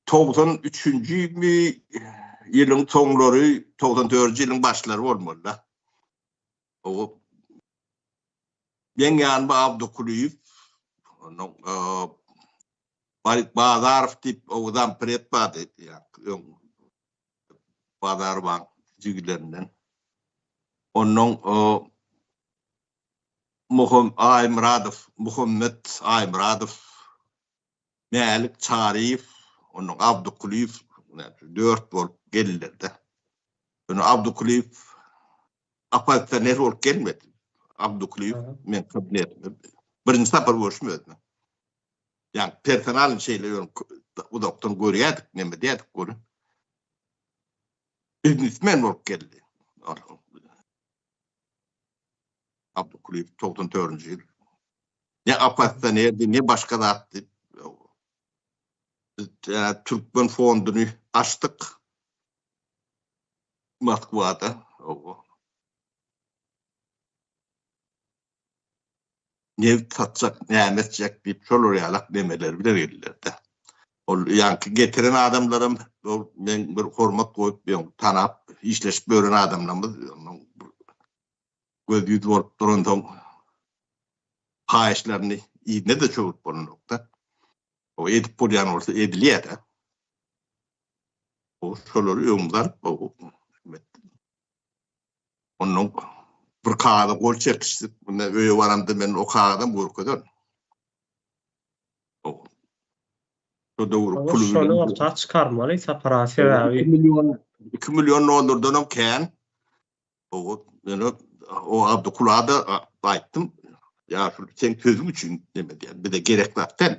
togsan üçünjimi ýylyň soňlary, togsan dördünji ýylyň başlary bolmaly-da. O meň ýanyma Abdukulyýew, onuň Barik Bazarow diýip, o zampred bardy, öň Bazarowaň jigilerinden. Onuň Aýmyradow, Muhammet Aýmyradow Mälik Çaryýew, ondan Abdy Kulyýew dört bolup geldiler-de. Ýöne Abdy Kulyýew oppozisioner bolup gelmedi. Abdy Kulyýew meň kabinetimde birinji sapar görşüm özüne. Ýa personalyň şeýle ýöne uzakdan görýärdik, neme diýýärdik görüň. Biznesmen bolup geldi. Abdukulyýew togsan dördünji ýyl. Ne oppozisionerdi, ne başga zatdy. Türkmen fonduny açdyk. Moskwada. Owa. nebit satjak, näme etjek diýip, şolar ýalak nemeler bilen geldiler-de. Ol ýaňky getiren adamlaram ol men bir hormat goýup, ýöne tanap, işleşip ýören adamlarymyz göz-ýüz bolup duransoň, haýyşlaryny yzyna-da çöwrüp bolanok-da. O edip bolýan bolsa edilýär-ä. Ol şolary öňümize alyp, Ondan bir kagyza gol çekişdik. Munda öýe baramda men o kagyzam görkezer. O. Şu döwür pul. Şonu orta çykarmaly sapara sebäbi. 2 million 2 million dollardan hem kän. O ýöne o Abdy Kulada aýtdym. Ýa şu sen sözüň üçin demedi. Bize gerek zat däl.